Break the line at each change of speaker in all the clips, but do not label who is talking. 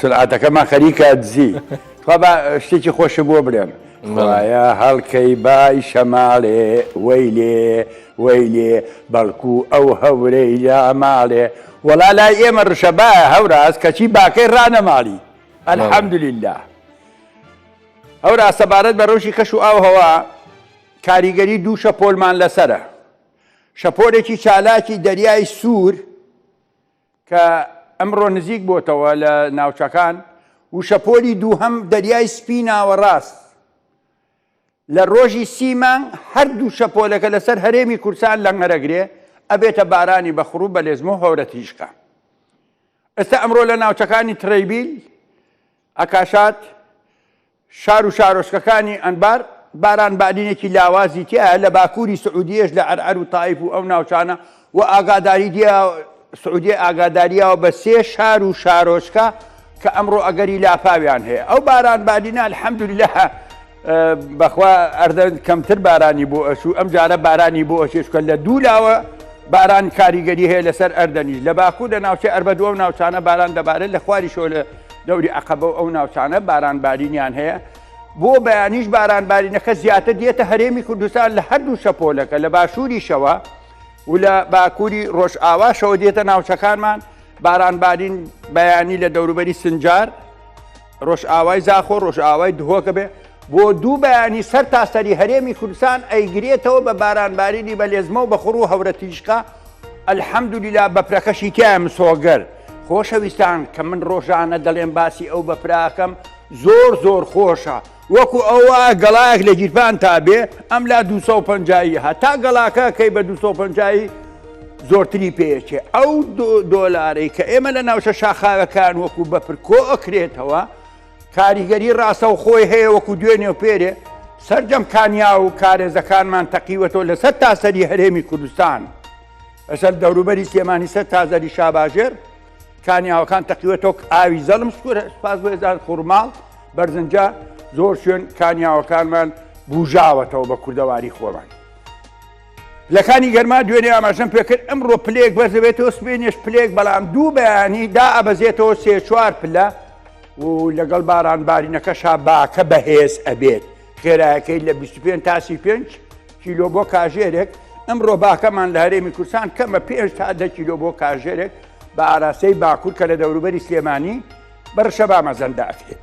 سلعەتەکەمان خەریکە دزی. تخوا با شتێکی خۆشم بۆ بنێن. خوایە هەڵکەی بای شەماڵێ وەیلێ وەیلێ بەڵکوو ئەو هەورەی لا ماڵێ وەڵا لای ئێمە ڕشە بایە هەوراز کەچی باکەی ڕانەماڵی الحمدللە هەوراز سەبارەت بە ڕەوشی کەش و ئاوهەوا کاریگەری دوو شەپۆلمان لەسەرە شەپۆلێکی چالاکی دەریای سوور کە ئەمڕۆ نزیک بۆتەوە لە ناوچەکان و شەپۆلی دووهەم دەریای سپی ناوەڕاست لە ڕۆژی سی مانگ هەردوو شەپۆلەکە لەسەر هەرێمی کورسان لەنگەرەگرێ ئەبێتە بارانی بەخڕوو بەلێزمۆ هەورە تیژکە ئێستا ئەمڕۆ لە ناوچەکانی تڕەیبیل ئەکاشات شار و شارۆچکەکانی ئەنبار باران بادینێکی لاوازی تیایە، لە باکووری سعودیەش لە عەرعەر و تائیف و ئەو ناوچانە و ئاگاداریی سعودیە ئاگادارییەوە بە سێ شار و شارۆچکە کە ئەمڕۆ ئەگەری لافاویان هەیە ئەو باران بادینە الحمدللە بەخوا ئەردەن کەمتر بارانی بۆ ئەچوو ئەم جارە بارانی بۆ ئەچێشکە لە دوو لاوە باران کاریگەری هەیە لەسەر ئەردەنیش لە باکوور لە ناوچەی ئەربەدووە و ناوچانە باران دەبارێت لە خواری شۆلە دەوری عەقەبە و ئەو ناوچانە باران بارینیان هەیە، بۆ بەیانیش باران بارینەکە زیاتر دێتە هەرێمی کوردستان لە هەردوو شەپۆلەکە لە باشووریشەوە و لە باکووری ڕۆژئاواشەوە دێتە ناوچەکانمان باران بارین بەیانی لە دەوروبەری سنجار ڕۆژئاوای زاخۆ ڕۆژئاوای دهۆکە بێ بۆ دوو بەیانی سەر تاسەری هەرێمی کوردستان ئەیگرێتەوە بە بارانبارینی بەلێزمە و بەخوڕ و هەورە تیژکە الحمدللە بەفرەکەشی تیا مسۆگەر خۆشەویستان کە من ڕۆژانە دەڵێن باسی ئەو بەفراکەم زۆر زۆر خۆشە وەکو ئەوە گەڵایەک لە گیرپان تا بێ ئەم لا 250 هەتا گەڵاکە کەی بە 250 زۆرتری پێچێ ئەو دۆلارەی کە ئێمە لە ناوچە شاخاوەکان وەکو بەفر کۆ ئەکرێتەوە کاریگەری ڕاستەوخۆی هەیە وەکو دوێنێ و پێرێ سەرجەم کانیا و کارێزەکانمان تەقیوەتەوە لە سەر تاسەری هەرێمی کوردستان لەسەر دەوروبەری سلێمانی سەر تازەری شاباژێر کانیاوەکان تەقیوەتۆک ئاوی زەڵم سکورە سپاس بۆێزار خورماڵ بەرزنجە زۆر شوێن کانیاوەکانمان بژاوەتەوە بە کوردەواری خۆمان پلەکانی گەرما دوێنێ ئاماژەم پێکرد ئەمڕۆ پلەیەک بەرز دەبێتەوە سبەینێش پلەیەک بەڵام دوو بەیانی دائەبەزێتەوە سێ چوار پلە و لەگەڵ باران بارینەکەشا باکە بەهێز ئەبێت خێرایەکەی لە 25 تاسی پێنج کیلۆ بۆ کاژێرێک ئەمڕۆ باکەمان لە هەرێمی کوردستان کەمە پێش تا دە کیلۆ بۆ کاژێرێک بە ئاراستەی باکوور کە لە دەوروبەری سلێمانی بەرشەبا مەزەندە ئەکرێت.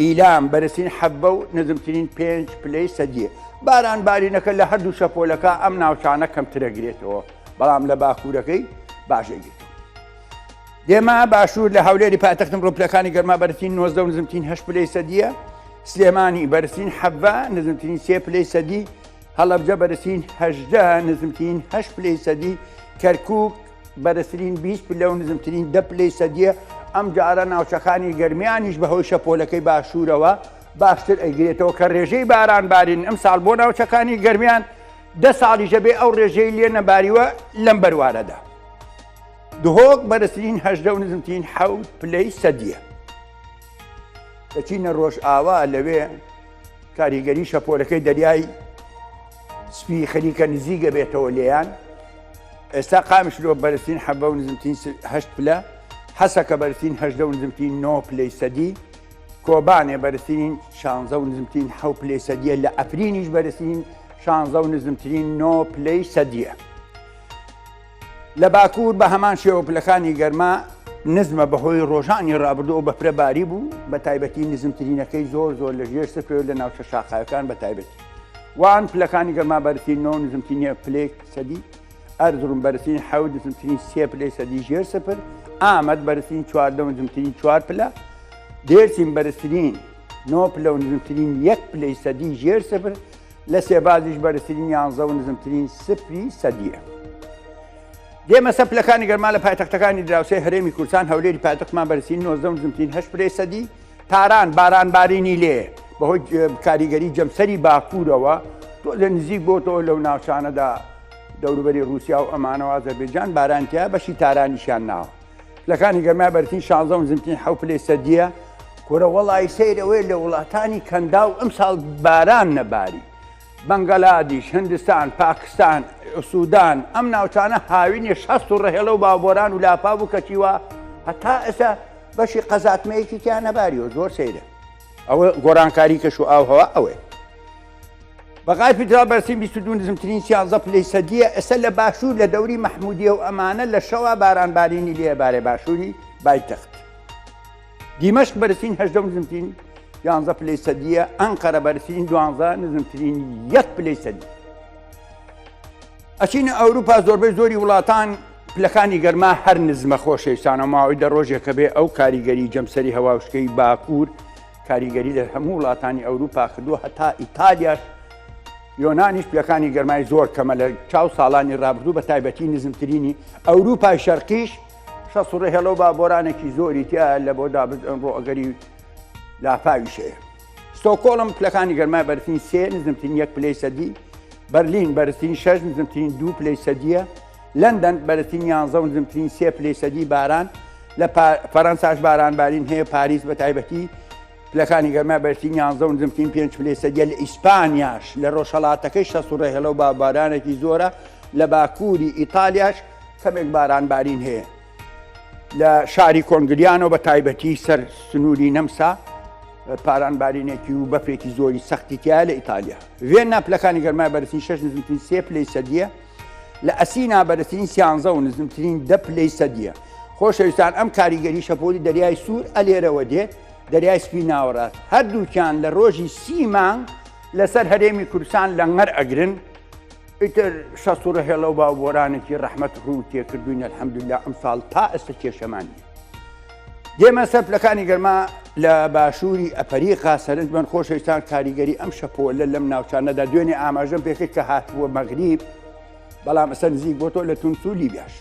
ئیلام، بەرزترین حەببە و نزمترین پێنج پلەی سەدییە. باران بارینەکە لە هەردوو شەپۆلەکە ئەم ناوچانە کەمتر ئەگرێتەوە، بەڵام لە باکوورەکەی باش ئەگرێتەوە. دێما، باشوور، لە هەولێری پایتەخت ئەمڕۆ پلەکانی گەرما بەرزترین نۆزدە و نزمترین هەشت پلەی سەدییە. سلێمانی، بەرزترین حەببە، نزمترین سێ پلەی سەدی. هەڵەبجە، بەرزترین هەژدە، نزمترین هەشت پلەی سەدی. کەرکووک. بەرزترین بیست پلە و نزمترین دە پلەی سەدیە ئەمجارە ناوچەکانی گەرمیانیش بەهۆی شەپۆلەکەی باشوورەوە باشتر ئەیگرێتەوە کە ڕێژەی باران بارین ئەم ساڵ بۆ ناوچەکانی گەرمیان دە ساڵیشە بێ ئەو ڕێژەی لێ نەباریوە لەم بەروارەدا دهۆک بەرزترین هەژدە و نزمترین حەوت پلەی سەدیە دەچینە ڕۆژ ئاوا لەوێ کاریگەری شەپۆلەکەی دەریای سپی خەریکە نزیک ئەبێتەوە لێیان ئێستا قامشلۆ بەرزترین حەبە و نزمترین هەشت پلە حەسەکە بەرزترین هەشدە و نزمترین نۆ پلەی سەدی کۆبانێ بەرزترین شانزە و نزمترین حەو پلەی سەدیە لە ئەفرینیش بەرزترین شانزە و نزمترین نۆ پلەی سەدیە. لە باکوور بە هەمان شێوە پلەکانی گەرما نزمە بەهۆی ڕۆژانی ڕابردوو بە فرە باری بوو بە تایبەتی نزمترینەکەی زۆر زۆر لە ژێر سفر لە ناوچە شاخاوەکان بە تایبەتی وان پلەکانی گەرما بەرتین نۆ نزمترینە پلێک سەدی ئەرزڕون بەرسین حەو نزمترین سێ پلێ سەدی ژێر سفر ئامەد بەرسین چواردە نزمترین چوار پلە دێرسین بەرزترین نۆ پلە و نزمترین یەک پلەی سەدی ژێر سفر لە سێبازیش بەرزترین یانزە و نزمترین سفری سەدیە. دێمە سەر پلەکانی گەرما لە پایتەختەکانی دراوسێ هەرێمی کوردستان هەولێری پایتەختمان بەرزترین نۆزدە و نزمترین هەشت پرەی سەدی، تاران باران بارینی لێ بەهۆی کاریگەری جەمسەری باکوورەوە تۆزێ نزیک بۆتەوە لەو ناوچانەدا دەوروبەری رووسیا و ئەمانەوە ئازەربێجان بارانتیا بەشی تارانیشیان ناوە. پلەکانی گەرمای بەرتین شازە و نزمترین حەو پلەی سەدیە کورە وەڵی سەیرەوەی لە وڵاتانی کەندا و ئەم ساڵ باران نەباری بەنگەلادیش هندستان پاکستان سوودان ئەم ناوچانە هاوینی شەست و ڕهێڵە و باوبۆران و لاپا بوو کەچیوە هەتا ئێستا بەشی قەزاتمەیەکی تیان نەباریەوە زۆر سەیرە ئەوە گۆرانکاری کەش و ئاوهەوە ئەوێ بەغای پیترا بەرسیم 22 نزمترین سیانزە پلەی سەدیە ئێستا لە باشوور لە دەوری مەحمودیە و ئەمانە لە شەوا بارانبارینی لێ بارێ باشووری بایتەخت دیمەشق بەرسین هەشدە نزمترین یانزە پلەی سەدیە ئەنقەرە بەرسین دوانزە نزمترین یەک پلەی سەدی ئەچینە ئەوروپا زۆربەی زۆری وڵاتان پلەکانی گەرما هەر نزمە خۆشەویستانە ماوەی دە ڕۆژێکە بێ ئەو کاریگەری جەمسەری هەواوشکەی باکوور کاریگەری لە هەموو وڵاتانی ئەوروپا کردووە هەتا ئیتالیاش یۆنانیش پلەکانی گەرمای زۆر کەمە لە چاو ساڵانی ڕابردوو بە تایبەتی نزمترینی ئەوروپای شەرقیش شەسوڕێ هێڵە و با بۆرانێکی زۆری تیا لە بۆ دابز ئەمڕۆ ئەگەری لافاویشەیە ستۆکۆڵم پلەکانی گەرمای بەرتین سێ نزمترین یەک پلەی سەدی بەرلین بەرزترین شەش نزمترین دوو پلەی سەدیە لەندەن، بەرزترین یانزە و نزمترین سێ پلەی سەدی باران، لە فەرەنساش بارانبارین هەیە، پاریس بەتایبەتی پلەکانی گەرما بەرزترین یانزە و نزمترین پێنج پلەی سەدییە، لە ئیسپانیاش لە ڕۆژهەڵاتەکەی شەست و ڕێهێڵە و بارانێکی زۆرە، لە باکووری ئیتالیاش کەمێک بارانبارین هەیە، لە شاری کۆنگلیانۆ بەتایبەتی سەر سنووری نەمسا بارانبارینێکی و بەفرێکی زۆری سەختی تایە، لە ئیتالیا ڤێننا پلەکانی گەرما بەرزترین شەش و نزمترین سێ پلەی سەدییە، لە ئەسینا بەرزترین سیانزە و نزمترین دە پلەی سەدیە خۆشەویستان ئەم کاریگەری شەپۆلی دەریای سوور ئەلێرەوە دێت دەریای سپی ناوەڕاست هەردووکیان لە ڕۆژی سی مانگ لەسەر هەرێمی کوردستان لەنگەر ئەگرن ئیتر شەست و ڕهێڵە و باوبۆرانێکی ڕەحمەت ڕوو تێکردوین الحمدلله ئەمساڵ تا ئێستا کێشەمانی دێمە سەر پلەکانی گەرما لە باشووری ئەپەریقا سەرنجمەند خۆشەویستان کاریگەری ئەم شەپۆلە لەم ناوچانەدا دوێنێ ئاماژەم پێکرد کە هاتبووە مەغریب بەڵام ئەسەر نزیک بۆ تۆ لە تونسو لیبیاش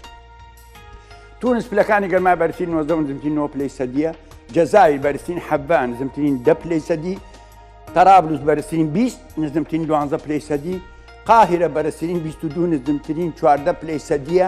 تونس پلەکانی گەرما بەرسی 90 زمتی 9 پلی سەدیە جەزاوی بەرسین حەبان زمترین دە پلی سەدی تەرابلوس بەرسین 20 نزمترین دوانزە پلی سەدی قاهرە بەرسین 22 نزمترین چواردە پلی سەدیە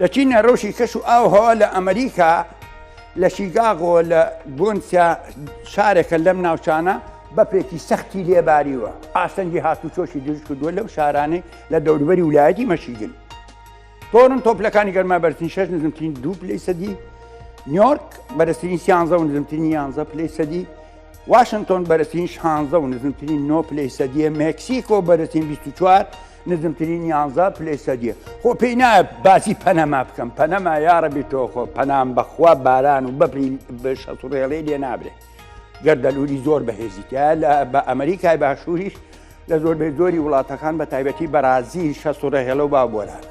لە چینە رەوشی کەش و ئاو هەوا لە ئەمریکا لە شیگاغۆ لە گۆنسیا شارێکە لەم ناوچانە بەپێکی سەختی لێباریوە ئاستەنگی هاتوچۆشی دروست کردووە لەو شارانەی لە دەوروبەری ولایەتی مەشیگن تۆرن تۆپلەکانی گەرما بەرتنی شش نزمترین دوو پلی سەدی نیۆرک بەرزترین سیانزە و نزمترین یانزە پلی سەدی واشنگتۆن بەرزترین شانزە و نزمترین نۆ پلی سەدیە مکسیکۆ بەرزترین 24 نزمترین یانزە پلەی سەدیە خۆ پێی نایە باسی پەنەما بکەم پەنەما یاڕەبی تۆخۆ پەنام بەخوا باران و بەپری شەڕێڵی لێ نابرێ گەردەلووری زۆر بەهێزیتە لە بە ئەمریکای باشووریش لە زۆر بێ زۆری وڵاتەکان بە تایبەتی بەرازیل شەسوڕە هێڵە و باوبۆران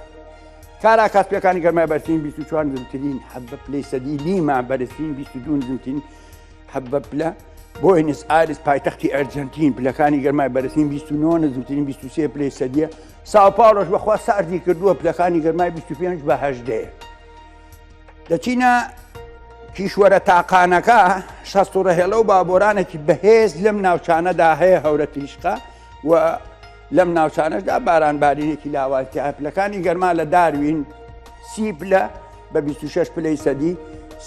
کارا کاسپەکانی گەرمای بەرتین 24 زمترین حەب بە پلەی سەدی لیما بەرزترین 22 زمترین حەبە پلە، بۆینس ئایرس پایتەختی ئەرجەنتین پلەکانی گەرمای بەرزترین 29 نزمترین 23 پلەی سەدیە ساوپاڵۆش بەخوا ساردی کردووە پلەکانی گەرمای 25 بە هەشدەیە دەچینە کیشوەرە تاقانەکە شەستوڕەهێڵە و بابۆرانێکی بەهێز لەم ناوچانەدا هەیە هەورە تیشقا و لەم ناوچانەشدا بارانبارینێکی لاواز تیایە، پلەکانی گەرما لە داروین سی پلە بە بیست و شەش پلەی سەدی،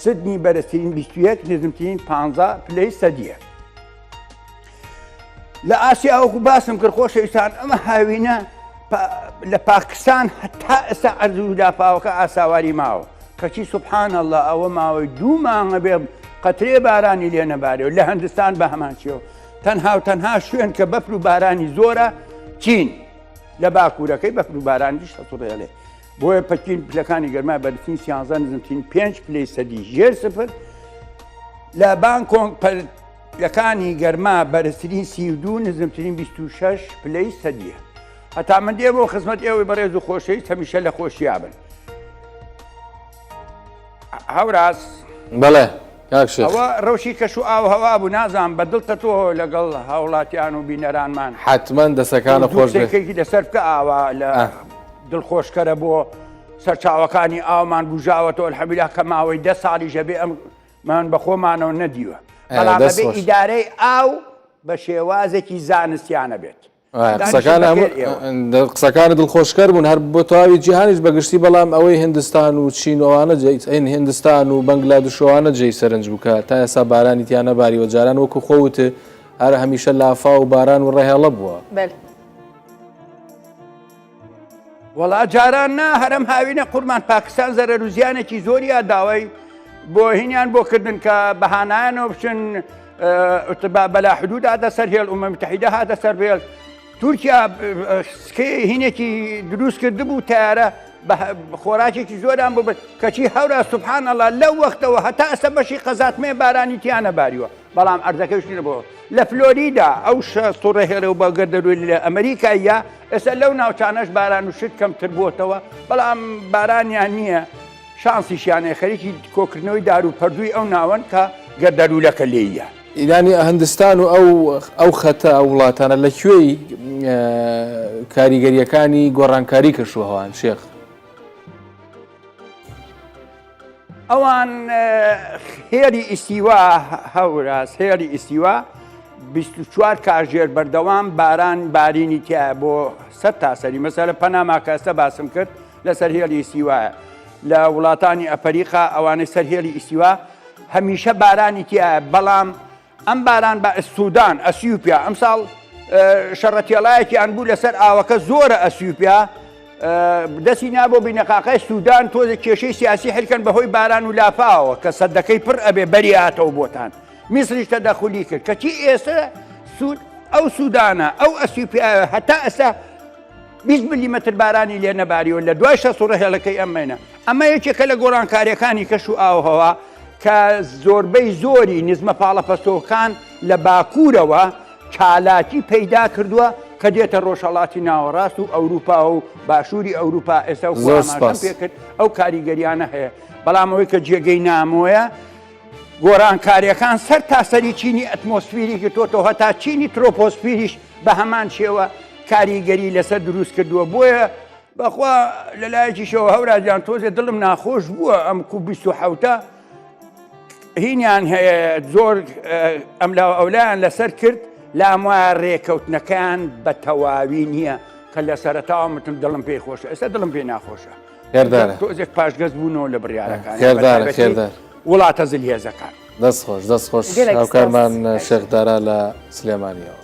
سدنی بەرزترین بیست و یەک، نزمترین پانزا پلەی سەدییە. لە ئاسیا وەکو باسم کرد خۆشەویستان ئەمە هاوینە لە پاکستان هەتا ئێستا ئەرزوو لافاوەکە ئاساواری ماوە کەچی سبحان الله ئەوە ماوەی دوو مانگە بێ قەترێ بارانی لێ نەبارێ و لە هەندستان بە هەمان چێوە تەنها و تەنها شوێن کە بەفر و بارانی زۆرە چین لە باکوورەکەی بەفر و بارانیش هەسوڕێڵێ بۆیە پەکین پلەکانی گەرما بەرفین سیانزان نزمترین پێنج پلی سەدی ژێر سفر لە بانکۆنگ پلەکانی گەرما بەرزترین سی دوو نزمترین 26 پلەی سەدیە هەتا من دێ بۆ خزمەت ئێوەی بەڕێز و خۆشەویست هەمیشە لە خۆشیابن هەوراز بەڵێ
ئەوە ڕەوشی کەش و
ئاو هەوا بوو نازان بە دڵتە تۆ لەگەڵ هاوڵاتیان و بینەرانمان حتممەند دەسەکانە
خۆشێکی لەسەر بکە ئاوا
لە دڵخۆشکەرە بۆ سەرچاوەکانی ئاومان گوژاوەەوە الحەبیلا کە ماوەی دە ساڵی ژەبێ ئەم من بە خۆمانەوە نەدیوە بەڵام ئیدارەی ئاو بە شێوازێکی زانستیانە بێت
قسەکانە دڵخۆشکەر بوون هەر بۆ تەواوی جیهانیش بەگشتی بەڵام ئەوەی هندستان و چینەوانە جین هندستان و بەنگلا دشوانە جێی سەرنج بکە تا ئێسا بارانی تیانە باریوە جاران وەکو خۆوت هەر هەمیشە لافا و باران و ڕێهێڵە بووە.
وەڵا جاران نا هەرم هاوینە قورمان پاکستان زەرەر و زیانێکی زۆریا داوای بۆ هینیان بۆ کردن کە بەهانایانەوە بچن اتباع بلا حدود هذا سر هي الامم المتحده هذا سر بيل تورکیا سکەی هینێکی دروست کرد بوو تارە خۆراکێکی زۆران ببن کەچی هەورا سبحان الله لەو وەختەوە هەتا ئەسە بەشی قەزاتمێ بارانی تیانە باریوە بەڵام ئەرزەکەی شتینە بۆ لە فلۆریدا ئەو شە سوڕە هێڵە و بەگە دەروی لە ئەمریکاییە ئێستا لەو ناوچانەش باران و شت کەمتر بووتەوە بەڵام بارانیان نییە شانسیشیانەیە خەریکی کۆکردنەوەی دار و پەردووی ئەو ناوەن کە گەردەلوولەکە لێیە. ئیرانی هندستان
و ئەو ئەو خەتە ئەو وڵاتانە لە کوێی کاریگەریەکانی گۆڕانکاری کەشوهەوان شێخ؟
ئەوان هێری ئیسیوا هەوراز هێری ئیسیوا 24 کاژێر بەردەوام باران بارینی تیا بۆ سە تاسەری مەسەرە پەناماکەستە باسم کرد لەسەر هێلی ئیسیوایە لە وڵاتانی ئەفریقا ئەوانەی سەر هێلی ئیسیوا هەمیشە بارانی تیا بەڵام ئەم باران بە سوودان ئەسیوپیا ئەمساڵ شەڕە تێڵایەکیان بوو لەسەر ئاوەکە زۆرە ئەسیوپیا دەستی نا بۆ بینەقاقای سوودان تۆزە کێشەی سیاسی حلکەن بەهۆی باران و لافاوە کە سەدەکەی پڕ ئەبێ بەریاتەوە بۆتان میسریش تەدەخلی کرد کەچی ئێستا سوود ئەو سوودانە ئەو ئەسیوپیا هەتا ئەسا بیست ملیمەتر بارانی لێ نەباریوە لە دوای شە سوڕە هێڵەکەی ئەم مەینە ئەمە یەکێکە لە گۆڕانکاریەکانی کەش و ئاوهەوا کە زۆربەی زۆری نزمە پاڵەپەستۆکان لە باکوورەوە چالاکی پەیدا کردووە کە دێتە ڕۆژهڵاتی ناوەڕاست و ئەوروپا و باشووری ئەوروپا ئێستا پێکرد ئەو کاریگەریانە هەیە بەڵام ئەوەی کە جێگەی نامۆیە گۆڕانکارییەکان سەر تاسەری چینی ئەتمۆسفیری گرتۆتەوە هەتا چینی ترۆپۆسفیریش بە هەمان شێوە کاریگەری لەسەر دروست کردووە بۆیە بەخوا لە لایەکیشەوە هەوراجان تۆزێ دڵم ناخۆش بووە ئەم کو بیست و حوتە هینیان هەیە زۆر ئەم لاوە ئەولایان لەسەر کرد لام وایە ڕێکەوتنەکان بە تەواوی نییە کە لە سەرتاوە متم دڵم پێی خۆشە ئێستا دڵم پێی ناخۆشە هێردارە تۆزێک پاشگەز بوونەوە لە بڕیارەکان هێردارە هێردار
وڵاتە زل هێزەکان دەست خۆش دەست خۆش
هاوکارمان
شێخدارا لە سلێمانیەوە